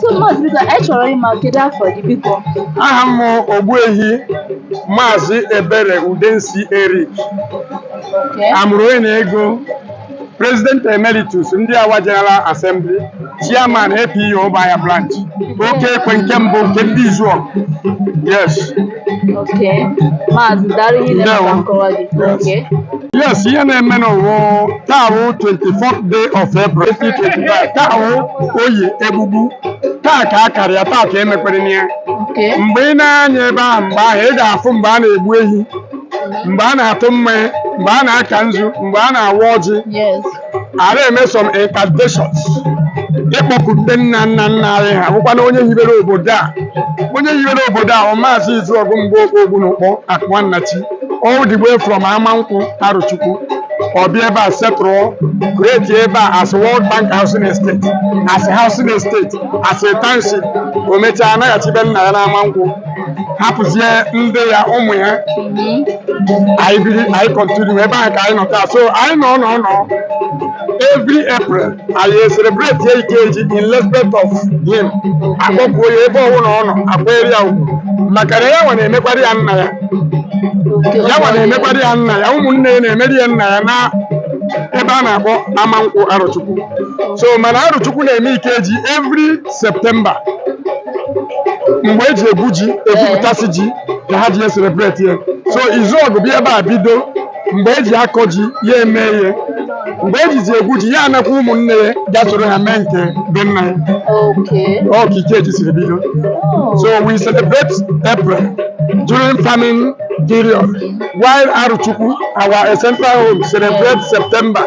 so maazị biko anyị chọrọ ịma kedu afa gị biko aha m wụ ogbuehi maazị ebere udensi eric okay. amụrụ onye n'ego president emeritus ndị awa general assembly chairman apu ụmụahịa branch oke ekwe nke mbụ nke ndị izuọgụ yes okay maazị daalụ ihe na-eme ka nkọwa gị okay yes ihe na-eme n'ụwa taa wụ 24th day of April 2025 taa wụ oye egbugbu taa ka a kara ya taa ka e mekwaranụ ya okay mgbe ị na-anya ebe ahụ mgbe ahụ ị ga-afụ mgbe a na-egbu ehi mgbe a na-atụ mmanya mgbe a na-aka nzu mgbe a na-awa ọjị yes a na-eme some incantations ịkpọku ndị nna nna nna anyị ha wụkwanụ onye hibere obodo a onye hibere obodo a bụ maazị izuọgụ mgbokpo ogbunukpọ akụma nnachi all the way from amankwụ arọchukwu ọ bịa ebe a settle create ebe a as World Bank Housing Estate as Housing Estate as a township o mechaa anaghachi be nna ya n'amankwụ hapụzie ndị ya ụmụ ya anyị biri anyị continue ebe ahụ ka anyị nọ taa so anyị nọ nọ nọ every april anyị celebrate ya ikeji in respect of him akpọkuo ya ebe ọwụna ọ nọ akwaara ya ugwu maka na ya nwa na-emekwara ya nna ya ya nwa na-emekwara ya nna ya ụmụnne ya na-emere ya nna ya na ebe a na-akpọ amankwụ arọchukwu so mana arọchukwu na-eme ikeji every september mgbe e ji egwu ji e gwupụtasịa ji ka ha ji ya celebrate ya so izuọgụ bịa ebe a bido mgbe e ji akọ ji ya eme ya mgbe e jizi egwu ji ya anakwa ụmụnne ya ga soro ha mee nke be nna ya Okay. ọ ka ikeji siri bido Oh. So we celebrate April during farming period, while Arọchukwu, our central home, celebrates September.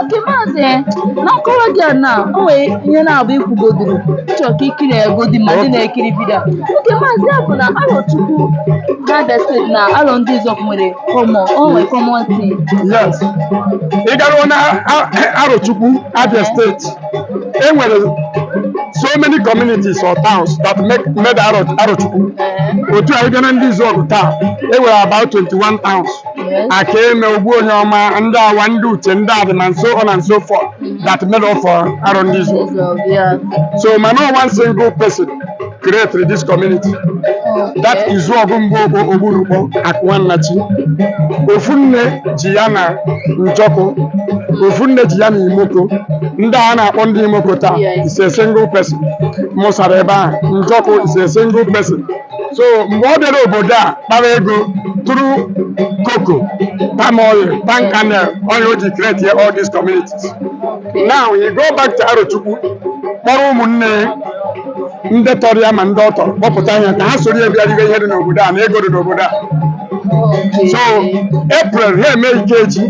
okay maazị na nkọwa gị a na o nwere ihe na-abụ i kwugodoro ịchọ ka ikiri egodi ma ndị na-ekiri video okay maazị ya bụ na arọchukwu na abia state na arọ ndị izuọgụ nwere common o nwere common thing yes ị garuo na A- arochukwu abia state e nwere so many communities or towns that make made Aro- arochukwu otu a ị bịa na ndị izuọgụ taa e nwere about 21 towns akaeme ogbuonyeọma ndị awa ndị uche ndị adịmọha and so on and so forth that made up for arọ ndị izuọgụ so mana ọ one single person created this community that is izuọgụ mgbokpo ogbunukpọ akụma nnachi ofu nne ji ya na njọkụ ofu nne ji ya na imoko ndị a na-akpọ ndị imoko taa is a single person mụsara ebe ahụ njọkụ is a single person so mgbe ọ bịara obodo a kpara ego through cocoa palm oil palm kernel oil o ji create ya all these communities now he go back to arochukwu kpọrọ ụmụnne ya ndị tọrọ ya ma ndị ọ tọrọ kpọpụta ya ka ha soro ya bịa ribe ihe dị n'obodo a na ego dị n'obodo a so april ha eme ikeji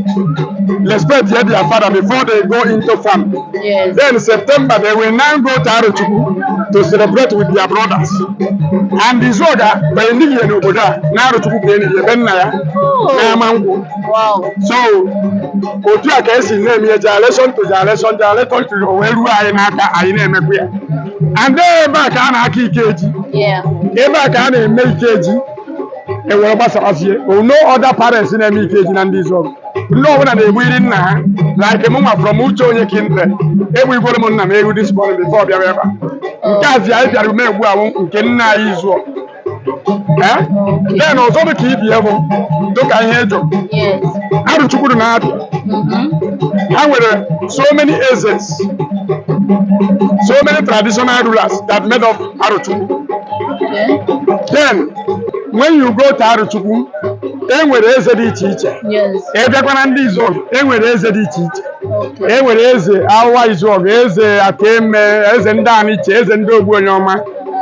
respect ya their father before they go into farm Yes. Then September they will now go to Arochukwu to celebrate with their brothers. And Izuọgụ ebe e niri ya n'obodo a, na Arochukwu ebe e niri ya be nna ya, na Amankwụ. Wow. So, otu a ka e si na-eme ya generation to generation generation to wee ruo anyị n'aka anyị na-emekwa ya. And then ebe a ka a na-aka Ikeji, Yeah. ebe a ka a na-eme Ikeji. e were gbasawazie no other parents na-eme ikeji na ndị izuọgụ ndị ọbụla na-egbu iri nna ha like m nwa from ucheonye kindred egbuigwere m nna m ewu this morning before ọ bịara ebe a nke a zi anyị bịara ume egbu ahụ nke nna anyị izuọgụ Eh? then ọzọ dị ka ibe ya bụ dịka ihe ị jụrụ Yes. arochukwu dị na abia ha nwere so many ezes so many traditional rulers that made up Arochukwu. Then when you go to Arochukwu, e nwere eze dị iche iche. Yes. Ị bịakwa na ndị Izuọgụ, e nwere eze dị iche iche. Okay. E nwere eze Awa Izuọgụ, eze Akeme, eze ndị Aniche, eze ndị Ogbuonyeọma,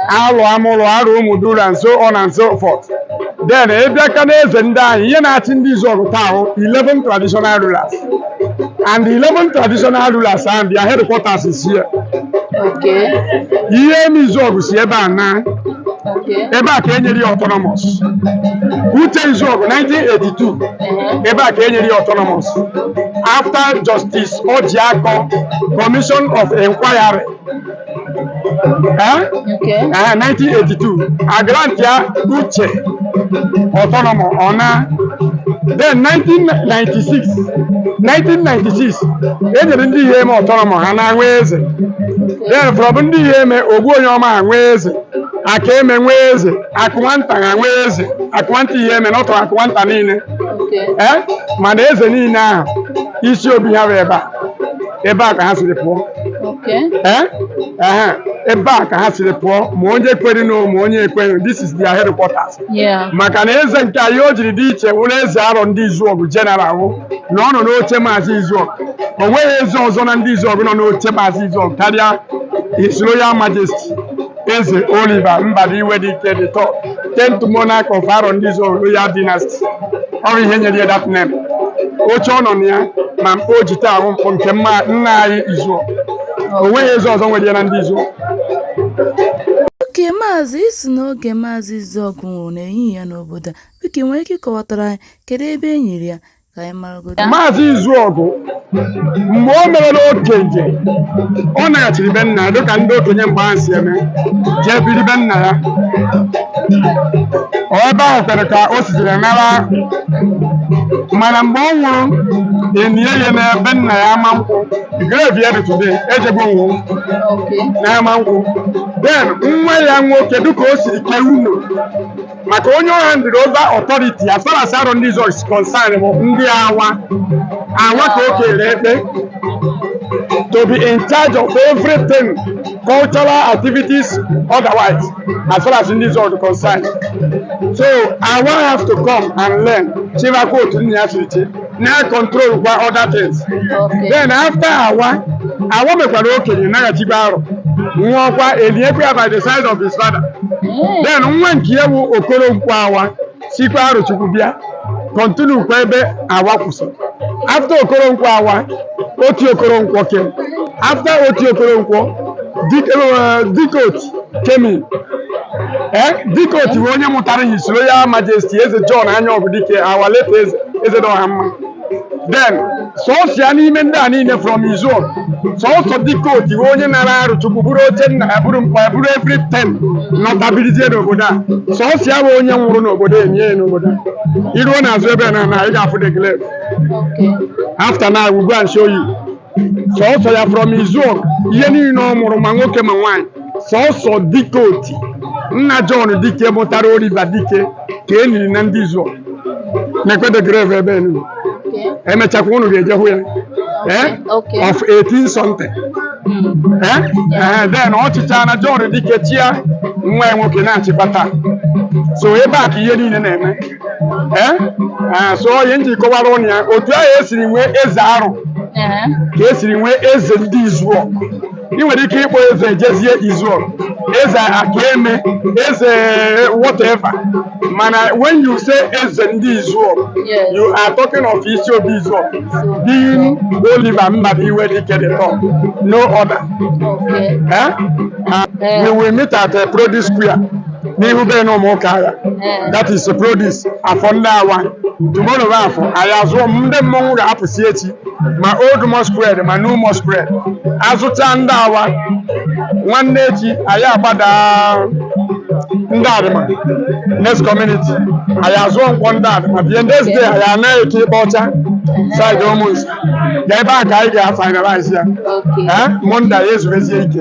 Arọ Amụrọ, Arọ Ụmụduru and so on and so forth. Then ị bịakwa na eze ndị anyị, ihe na-achị ndị Izuọgụ taa wụ 11 traditional rulers. and the 11 traditional rulers and their headquarters is here Okay. iheme izuọgụ si ebe a na Okay. ebe a ka e nyere ya autonomous uche izuọgụ 1982 Uh-huh. ebe a ka e nyere ya autonomous after justice ojiako commission of inquiry Eh? Okay. Eh, 1982 a grantia uche autonomy ọ naa then 1996 1996 e nyere ndị iheme autonomy ha naa nwee eze then from ndị iheme ogbuonyeọma ha nwee eze akeme nwee eze akụnwanta ha nwee eze akụnwanta iheme na ọ tọrọ akụnwanta niile Okay. eh? mana eze niile ahụ isi obi ha bụ ebe a ebe a ka ha siri pụọ Okay. Eh? Ehe, ebe a ka ha siri pụọ ma onye kwere na ma onye ekweghị this is their headquarters Yeah. maka na eze nke anyị o jiri dị iche wụrụ eze arọ ndị izuọgụ general wụ na ọ nọ n'oche maazị izuọgụ o nweghị eze ọzọ na ndị izuọgụ nọ n'oche maazị izuọgụ karịa his royal majesty Eze Oliver Mbadiwe Dike the third, tenth monarch of Aro ndị Izuọgụ Royal Dynasty. Ọ bụ ihe nyere ya that name. Oche ọ nọ na ya ma mkpa o ji taa ahụ mkpọ nke nna nna anyị Izuọgụ. O nweghị eze ọzọ nwere ya na ndị Izuọgụ. Okay maazị ị sị na oge maazị Izuọgụ nwụrụ na enighị ya n'obodo a, biko ị nwere ike ịkọwatara anyị kedu ebe e niri ya? ka anyị maragodo maazị izuọgụ mgbe o merela okenye ọ naghachiri be nna ya dịka ndị okenye mgbe ahụ si eme jee biri be nna ya Ọ ebe ahụ kwere ka o sitere nara mana mgbe ọ nwụrụ enie ya na be nna ya Amankwụ grave ya dị today ejegbo nwụ oke na Amankwụ then nwa ya nwoke dịka o siri kee unu maka onye ọ handed over authority as far as Arọ ndị Izuọgụ is concerned bụ ndị awa awa ka o kere ekpe to be in charge of everything cultural activities otherwise as far as ndị Izuọgụ is concerned so awa have to come and learn chịbakwa otu nna ya siri chi na control kwa other things then after awa awa mekwara okenye naghachikwa Arọ nwụọkwa eniekwa ya by the side of his father then nwa nke ya bụ Okoronkwọ Awa sikwa Arọchukwu bịa continue kwa ebe awa kwụsịrị after Okoronkwọ Awa Oti Okoronkwọ came after Oti Okoronkwọ Dike eh, Dike Oti came in ee Dike Oti bụ onye mụtara His Royal Majesty Eze John Anyaọgụ Dike our late eze eze dị ọha mma then sọsọ ya n'ime ndị a niile from Izuọgụ sọsọ Dike Oti bụ onye nara Arọchukwu buru oche nna ya buru mkpa ya buru everything nọta birizie n'obodo a sọsọ ya bụ onye nwụrụ n'obodo enie ya n'obodo a i ruo n'azụ ebe a na na ị ga-afụ the grave after now we go and show you sọsọ ya from izuọgụ ihe niile ọ mụrụ ma nwoke ma nwaanyị sọsọ Dike Oti nna John Dike mụtara Oliver Dike ka e niri na ndị izuọgụ nekwe the grave ebe a nile. Okay. emechakwa unu ga-eje hụ ya eh? Okay. of 18 something Eh? Eh, then ọ chịchaana John Dike chịa nwa ya nwoke na-achịkwa taa so ebe a ka ihe niile na-eme ee ee, so ọ ihe m ji kọwara unu ya otu ahụ e siri nwee eze Arọ Ee. ka e siri nwee eze ndị Izuọgụ ị nwere ike ịkpọ eze Ejezie Izuọgụ eze Akaeme eze whatever mana when you say eze ndị Izuọgụ Yes. you are talking of isi obi Izuọgụ being Oliver Mbadiwe Dike the third no other Okay. eh? Ah, we will meet at uh, produce square n'ihu be na ụmụ ụka agha that is produce afọ ndị awa tomorrow bụ afọ anyị azụọ ndị mmọnwụ ga-apụsị echi ma old masquerade ma new masquerade azụcha ndị awa nwanne echi anyị agbada ndị adịma next community anyị azụọ nkwọ ndị adịma bie next day anyị anaghị eke ịkpa ọcha side ụmụnsi ga ebe a ka anyị ga-finalize ya Okay. ee Monday anyị ezubezie ike